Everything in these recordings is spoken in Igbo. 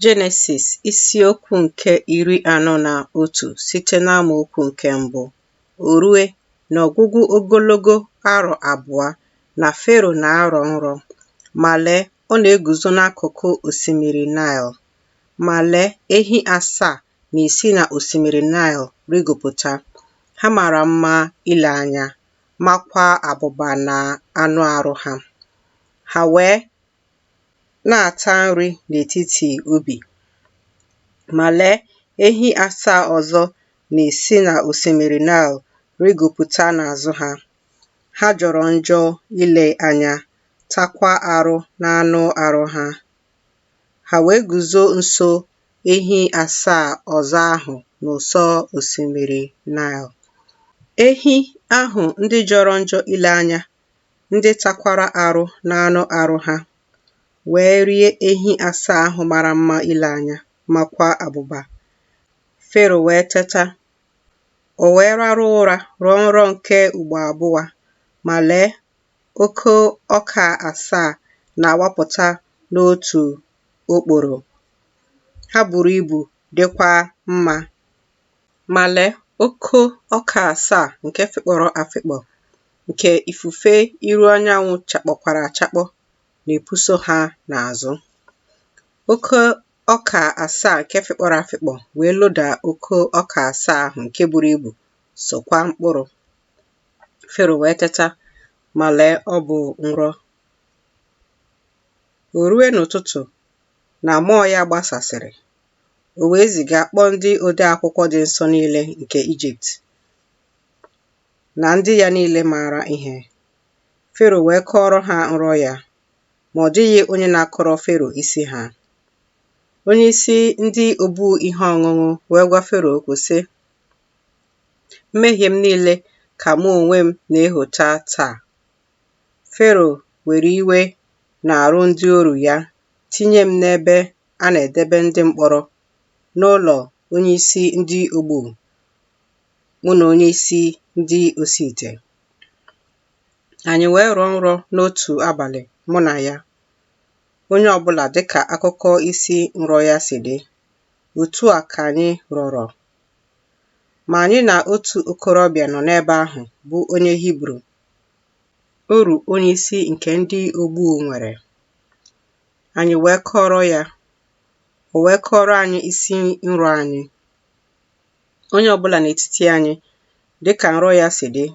Jenesis isiokwu nke iri anọ na otu site n'amaokwu nke mbụ o rue n'ọgwụgwụ ogologo arọ abụọ na Fero na-arọ nrọ, ma lee, ọ na-eguzo n'akụkụ osimiri Naịl. Ma lee, ehi asaa na-esi na osimiri Naịl rịgopụta, ha mara mma ile anya, makwaa abụba na anụ arụ ha. Ha wee na-ata nri n'etiti ubi. Ma lee, ehi asaa ọzọ na-esi n'osimiri Naịl rịgopụta n'azụ ha. Ha jọrọ njọ ile anya, takwa arụ n'anụ arụ ha. Ha wee guzo nso ehi asaa ọzọ ahụ n'ụsọ osimiri Naịl. Ehi ahụ ndị jọrọ njọ ile anya ndị takwara arụ n'anụ arụ ha, wee rie ehi asaa ahụ mara mma ile anya, makwa abụba. Fero wee teta, o wee rarụ ụra rọọ nrọ nke ugbo abụa, ma lee, oko ọka asaa na-awapụta n'otu okporo. Ha buru ibu dịkwa mma. Ma lee, oko ọka asaa nke fịkpọrọ afịkpọ, nke ifufe iru anyanwụ chakpọkwara achakpọ, na-epuso ha n'azụ. Oko ọka asaa nke fịkpọrọ afịkpọ wee loda oko ọka asaa ahụ nke buru ibu, sokwa mkpụrụ. Fero wee teta, ma lee, ọ bụ nrọ. O rue n'ụtụtụ na mmụọ ya gbasasịrị, o wee ziga kpọọ ndị odeakwụkwọ dị nsọ niile nke Ijipt na ndị ya niile maara ihe. Fero wee kọọrọ ha nrọ ya, ma ọ dịghị onye na-akọrọ Fero isi ha. Onye isi ndị obu ihe ọṅụṅụ wee gwa Fero okwu sị, Mmehie m niile ka mụ onwe m na-ehota taa. Fero were iwe n'arụ ndị oru ya tinye m n'ebe a na-edebe ndị mkpọrọ n'ụlọ onye isi ndị ogbu mụ na onye isi ndị osi ite anyị wee rọọ nrọ n'otu abalị mụ na ya onye ọbụla dịka akụkọ isi nrọ ya si dị otu a ka anyị rọrọ ma anyị na otu okorobịa nọ n'ebe ahụ bụ onye Hibru oru onye isi nke ndị ogbu nwere anyị wee kọọrọ ya o wee kọọrọ anyị isi nrọ anyị onye ọbụla n'etiti anyị dịka nrọ ya si dị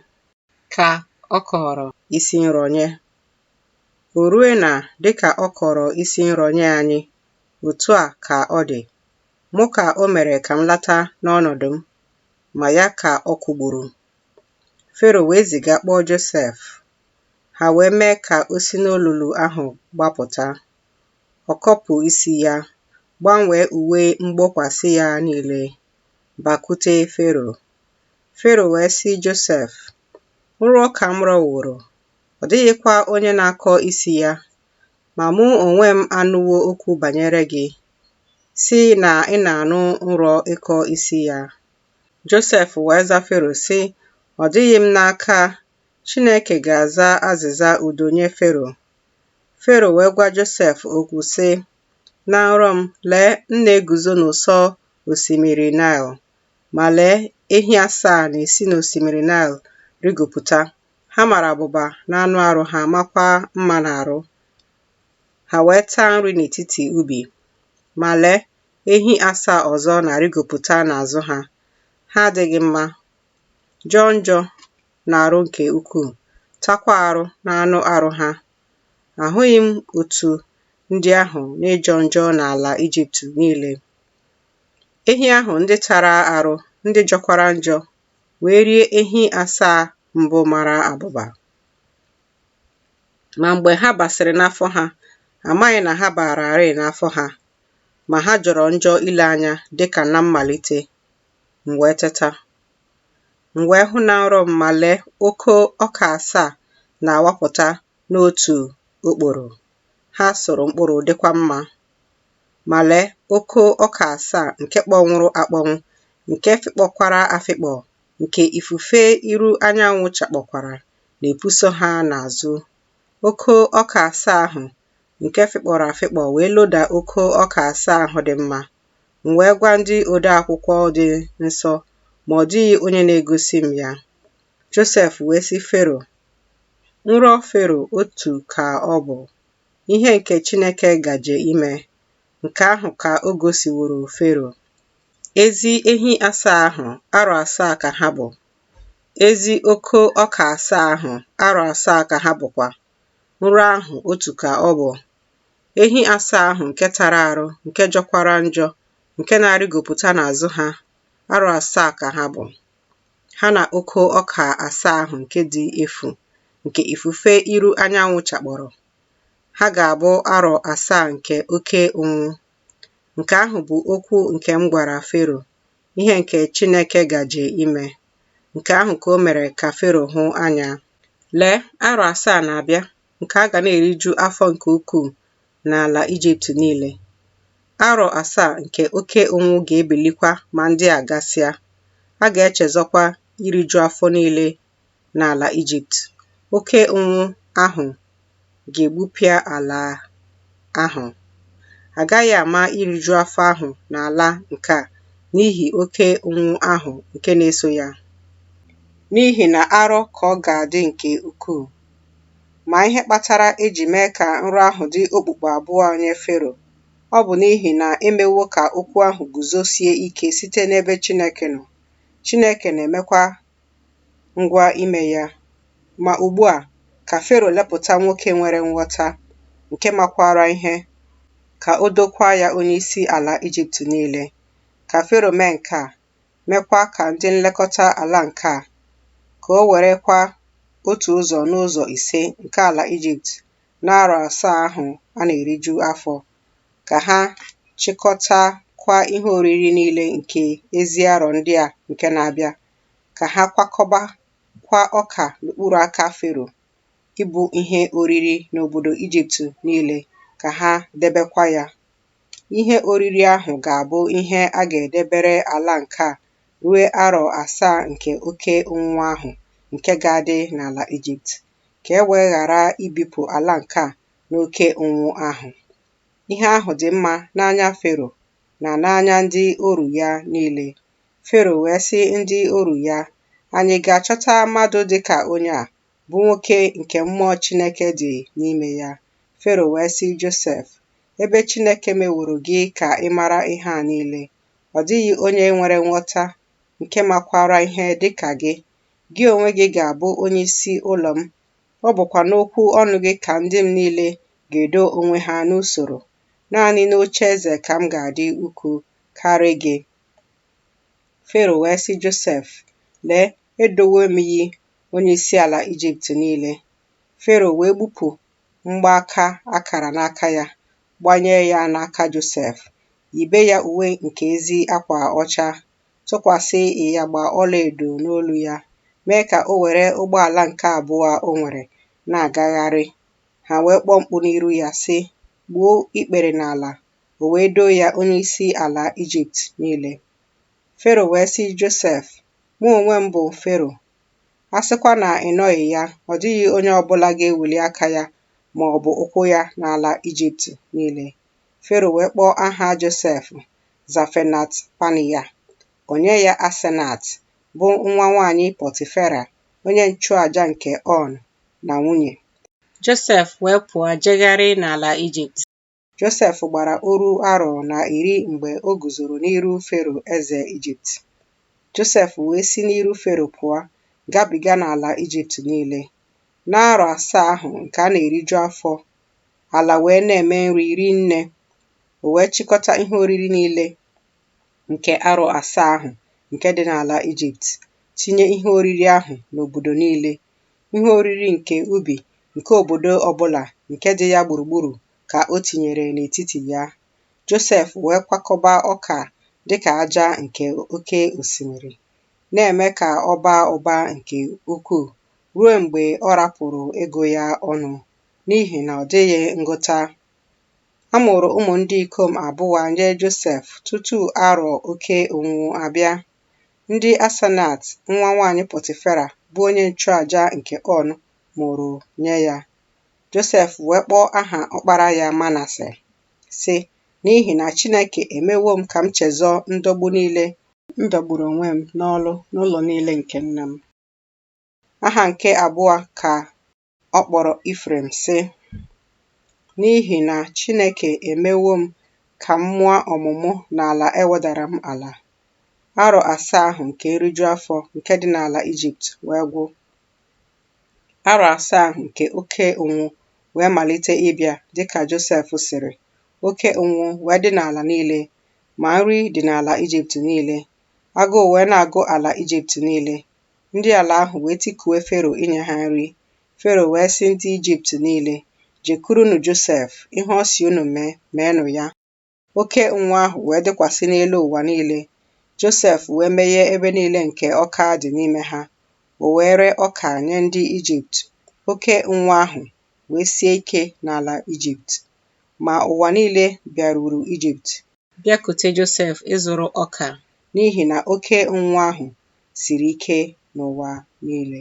ka ọ kọrọ isi nrọ nye o rue na dịka ọ kọrọ isi nrọ nye anyị otu a ka ọ dị mụ ka o mere ka m lata n'ọnọdụ m ma ya ka ọ kwụgburu Fero wee ziga kpọọ Josef ha wee mee ka o si n'olulu ahụ gbapụta. Ọ kọpụ isi ya, gbanwee uwe mgbokwasị ya niile, bakute Fero. Fero wee sị Josef, Nrọ ka m rọworo, ọ dịghịkwa onye na-akọ isi ya, ma mụ onwe m anụwo okwu banyere gị, si na ị na-anụ nrọ ịkọ isi ya. Josef wee za Fero, sị, Ọ dịghị m n'aka Chineke ga-aza azịza udo nye Fero. Fero wee gwa Josef okwu sị, Na nrọ m, lee, m na-eguzo n'ụsọ osimiri Naịl, ma lee, ehi asaa na-esi n'osimiri Naịl rigopụta. Ha mara abụba n'anụ arụ ha makwa mma n'arụ. Ha wee taa nri n'etiti ubi. Ma lee, ehi asaa ọzọ na-arịgopụta n'azụ ha. Ha adịghị mma, jọọ njọ n'arụ nke ukwuu, takwa arụ n'anụ arụ ha. Ahụghị m otu ndị ahụ n'ịjọ njọ n'ala Ijipt niile. Ehi ahụ ndị tara arụ, ndị jọkwara njọ, wee rie ehi asaa mbụ mara abụba. Ma mgbe ha basịrị n'afọ ha, amaghị na ha bararị n'afọ ha, ma ha jọrọ njọ ile anya dịka na mmalite m wee teta m wee hụ na nrọ m ma lee oko ọka asaa na-awapụta n'otu okporo ha soro mkpụrụ dịkwa mma ma lee oko ọka asaa nke kpọnwụrụ akpọnwụ nke fịkpọkwara afịkpọ nke ifufe iru anyanwụ chakpọkwara na-epuso ha n'azụ oko ọka asaa ahụ nke fịkpọrọ afịkpọ wee loda oko ọka asaa ahụ dị mma M wee gwa ndị odeakwụkwọ dị nsọ, ma ọ dịghị onye na-egosi m ya. Josef wee sị Fero, Nrọ Fero otu ka ọ bụ, ihe nke Chineke gaje ime, nke ahụ ka o gosiworo Fero. Ezi ehi asaa ahụ, arọ asaa ka ha bụ, ezi oko ọka asaa ahụ, arọ asaa ka ha bụkwa. nrọ ahụ otu ka ọ bụ ehi asaa ahụ nke tara arụ nke jọkwara njọ nke na-arịgopụta n'azụ ha arọ asaa ka ha bụ ha na oke ọka asaa ahụ nke dị efu nke ifufe iru anyanwụ chakpọrọ ha ga-abụ arọ asaa nke oke ụnwụ nke ahụ bụ okwu nke m gwara Fero ihe nke Chineke gaje ime. Nke ahụ ka o mere ka Fero hụ anya. Lee, arọ asaa na-abịa nke a ga na-eriju afọ nke ukwuu n'ala Ijipt niile. Arọ asaa nke oke ụnwụ ga-ebilikwa ma ndị a gasịa. A ga-echezọkwa iriju afọ niile n'ala Ijipt, oke ụnwụ ahụ ga-egbupịa ala ahụ. A gaghị ama iriju afọ ahụ n'ala nke a n'ihi oke ụnwụ ahụ nke na-eso ya, n'ihi na arọ ka ọ ga-adị nke ukwuu. Ma ihe kpatara e ji mee ka nrọ ahụ dị okpukpu abụọ nye Fero, ọ bụ n'ihi na e mewo ka okwu ahụ guzosie ike site n'ebe Chineke nọ, Chineke na-emekwa ngwa ime ya. Ma ugbu a, ka Fero lepụta nwoke nwere nghọta, nke makwara ihe, ka o dokwa ya onyeisi ala Ijipt niile. Ka Fero mee nke a, meekwa ka ndị nlekọta ala nke a, ka o werekwa otu ụzọ n'ụzọ ise nke ala Ijipt n'arọ asaa ahụ a na-eriju afọ ka ha chịkọtakwa ihe oriri niile nke ezi arọ ndị a nke na-abịa, ka ha kwakọbakwa ọka n'okpuru aka Fero ịbụ ihe oriri n'obodo Ijipt niile, ka ha debekwa ya. Ihe oriri ahụ ga-abụ ihe a ga-edebere ala nke a rue arọ asaa nke oke ụnwụ ahụ nke ga-adị n'ala Ijipt, ka e wee ghara ibipụ ala nke a n'oke ụnwụ ahụ. Ihe ahụ dị mma n'anya Fero na n'anya ndị oru ya niile. Fero wee sị ndị oru ya, Anyị ga-achọta mmadụ dị ka onye a, bụ nwoke nke mmụọ Chineke dị n'ime ya. Fero wee sị Josef, Ebe Chineke meworo gị ka ị mara ihe a niile, ọ dịghị onye nwere nghọta nke makwara ihe dị ka gị. Gị onwe gị ga-abụ onye isi ụlọ m Ọ bụkwa n'okwu ọnụ gị ka ndị m niile ga-edo onwe ha n'usoro. Naanị n'oche eze ka m ga-adị ukwu karị gị. Fero wee sị Josef, Lee, edowo m gị onye isi ala Ijipt niile. Fero wee gbupụ mgbaaka akara n'aka ya, gbanye ya n'aka Josef, yibe ya uwe nke ezi akwa ọcha, tụkwasị ịyagba ọlaedo n'olu ya, mee ka o were ụgbọala nke abụọ o nwere na-agagharị. Ha wee kpọọ mkpu n'iru ya, sị, Gbuo ikpere n'ala! O wee doo ya onyeisi ala Ijipt niile. Fero wee sị Josef, Mụ onwe m bụ Fero. A sịkwa na ị nọghị ya, ọ dịghị onye ọ bụla ga-eweli aka ya ma ọ bụ ụkwụ ya n'ala Ijipt niile. Fero wee kpọọ aha Josef Zafenat-Panea, o nye ya Asenat, bụ nwa nwanyị Pọtifera, onye nchụaja nke On, na nwunye. Josef wee pụọ jegharị n'ala Ijipt. Josef gbara oru arọ na iri mgbe o guzoro n'iru Fero eze Ijipt. Josef wee si n'iru Fero pụọ, gabiga n'ala Ijipt niile. N'arọ asaa ahụ nke a na-eriju afọ ala wee na-eme nri rinne. O wee chịkọta ihe oriri niile nke arọ asaa ahụ nke dị n'ala Ijipt, tinye ihe oriri ahụ n'obodo niile. Ihe oriri nke ubi nke obodo ọbụla nke dị ya gburugburu ka o tinyere n'etiti ya. Josef wee kwakọba ọka dịka aja nke oke osimiri, na-eme ka ọ baa ụba nke ukwuu ruo mgbe ọ rapụrụ ịgụ ya ọnụ. n'ihi na ọ dịghị ngụta. A mụrụ ụmụ ndị ikom abụọ nye Josef tutu arọ oke ụnwụ abịa, ndị Asenat nwa nwanyị Pọtifera bụ onye nchụaja nke On mụrụ nye ya. Josef wee kpọọ aha ọkpara ya Manase, sị, N'ihi na Chineke emewo m ka m chezọọ ndọgbu niile m dọgburu onwe m n'ọlụ n'ụlọ niile nke nna m. Aha nke abụọ ka Ọ kpọrọ Ifrem, sị, N'ihi na Chineke emewo m ka m mụọ ọmụmụ n'ala e wedara m ala. Arọ asaa ahụ nke nriju afọ nke dị n'ala Ijipt wee gwụ. Arọ asaa ahụ nke oke ụnwụ wee malite ịbịa dị ka Josef sịrị, oke ụnwụ wee dị n'ala niile, ma nri dị n'ala Ijipt niile. Agụụ wee na-agụ ala Ijipt niile, Ndị ala ahụ wee tikue Fero inye ha nri. Fero wee sị ndị Ijipt niile, Jekurunụ Josef, ihe ọ sị unu mee, meenụ ya. Oke ụnwụ ahụ wee dịkwasị n'elu ụwa niile. Josef wee meghee ebe niile nke ọka dị n'ime ha. O wee ree ọka nye ndị Ijipt. Oke ụnwụ ahụ wee sie ike n'ala Ijipt. Ma ụwa niile bịaruru Ijipt bịakute Josef ịzụrụ ọka. N'ihi na oke ụnwụ ahụ siri ike n'ụwa niile.